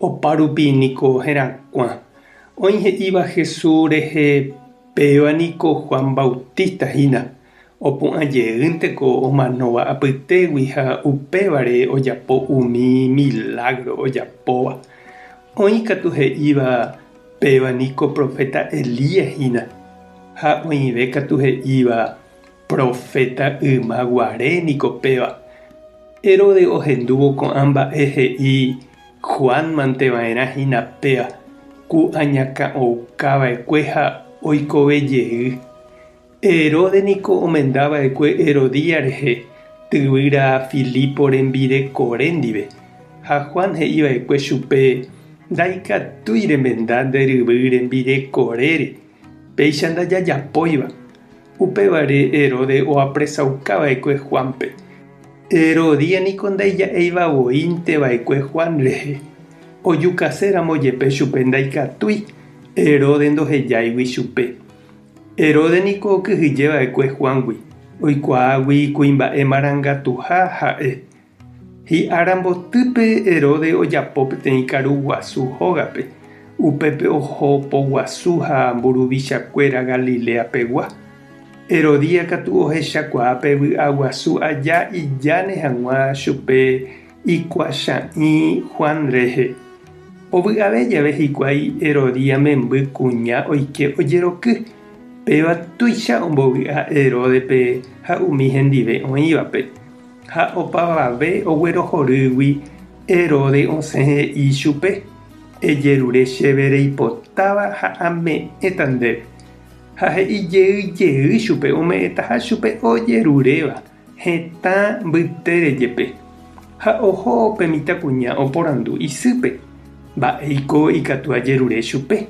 Opárupi niko herakuã. Oĩ he'íva Hesu rehe péva niko Juan Mbautista hína, opu'ã jeýnte ko omanóva apytégui ha upévare ojapo umi milágro ojapóva. Oĩ katu he'íva péva niko proféta Elías hína. Ha oĩve katu he'íva Proféta yma guare niko péva. Herodes ohendúvo ko'ã mba'e he'i Juánmante va'erã hína péva, ku añakã'ouka va'ekue ha oikove jey. Herodes niko omenda va'ekue Herodías rehe, tyvyra Filipo rembirekore ndive. Ha Juan he'i va'ekue chupe ndaikatúi remenda nde ryvy rembirekorére. Péicha ndajajapóiva. Upévare Herode oapresauka va'ekue Juánpe. Herodía niko ndaija'éiva voínte va'ekue Juan rehe. Ojukase ramo jepe chupe ndaikatúi, Herode ndohejáigui chupe. Herode niko okyhyje va'ekue Juángui, oikuaágui kuimba'e marangatuha ha'e. Hi'ára mbotýpe Herodes ojapo peteĩ karu guasu hógape, upépe oho po guasu ha mburuvicha kuéra Galilea pegua. Herodía katu ohechakuaa pe vy'a guasu aja ijáne hag̃ua chupe ikuacha'ỹ Juan rehe. Ovy'ave jave hikuái Herodía memby kuña oike ojeroky, péva tuicha ombovy'a Heródepe ha umi hendive oĩvape. Ha opavave oguerohorýgui Herodes osẽ he'i chupe, Ejerure chéve reipotáva ha ame'ẽta ndéve. Ha he'i jey jey chupe ome'ẽtaha chupe ojeruréva hetã mbytére jepe. Ha oho pe mitãkuña oporandu isýpe, Mba'éiko ikatu ajerure chupe?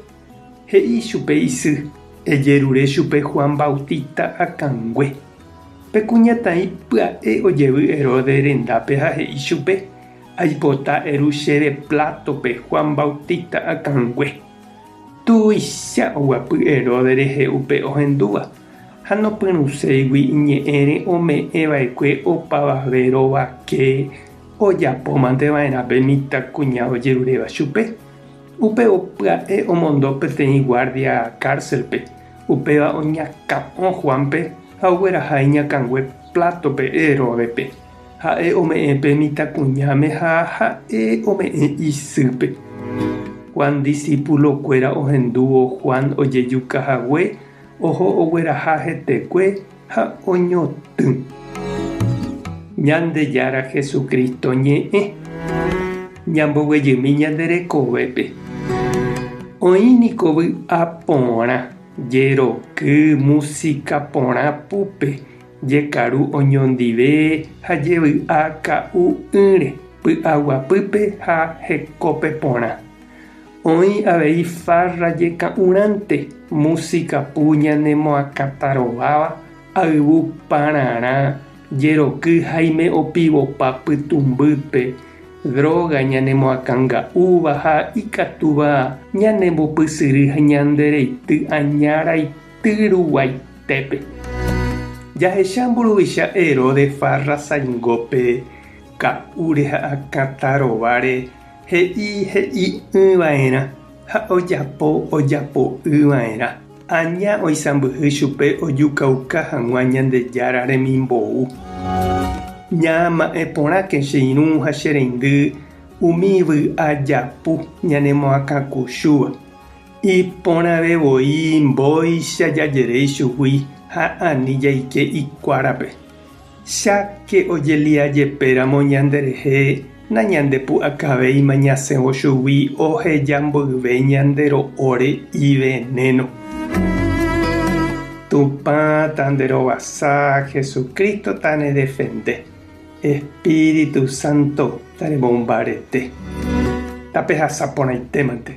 He'i ichupe isy, Ejerure chupe Juan Bautista akãngue. Pe kuñataĩ pya'e ojevy Herodes rendápe ha he'i chupe, Aipota eru chéve plátope Juan Bautista akãngue. Tuicha oguapy Herodes rehe upe ohendúva, ha nopyrũséigui iñe'ẽre ome'ẽ va'ekue opavave rovake ojapómante va'erã pe mitãkuña ojeruréva chupe. Upe pya'e omondo peteĩ guárdia kárselpe, upéva oñakã'o Juánpe ha ogueraha iñakãngue plátope Heródepe. Ha'e ome'ẽ pe mitãkuñáme ha ha'e ome'ẽ isýpe. Juan disípulokuéra ohendúvo Juan ojejuka hague oho ogueraha hetekue ha oñotỹ. Ñandejára Jesucristo ñe'ẽ, ñamboguejymi ñande rekovépe. Oĩ niko vy'a porã, jeroky, música porã púpe, jekaru oñondive ha jevy'a ka'u'ỹre, py'aguapýpe ha hekópe porã. Oĩ avei farra jeka'urãnte, músika pu ñanemoakãtarováva, ayvu pararã, jeroky ha ime'opivopa pytũmbýpe, dróga ñanemoakãnga'úva ha ikatúva ñanembopysyry ha ñande reity aña raity ruguaitépe. Jahecha mburuvicha Herodes farra saingópe, ka'úre ha akãtarováre, He'i he'i'ỹva'erã ha ojapo ojapo'ỹva'erã, aña oisãmbyhy chupe ojukauka hag̃ua Ñandejára remimbou. Ña ma'ẽ porãke che irũ ha che reindy umi vy'a japu ñanemoakãkuchúva. Iporãve voi mbóicha jajeréi chugui ha ani jaike ikuárape. Cháke ojeliajepéramo ñanderehe nañandepu'akavéima ñasẽvo chugui oheja mboyve ñande ro'óre ivenéno. Tupã tanderovasa, Jesucristo taredefende, Espíritu Santo taremombarete. Tapehasa porãitémante.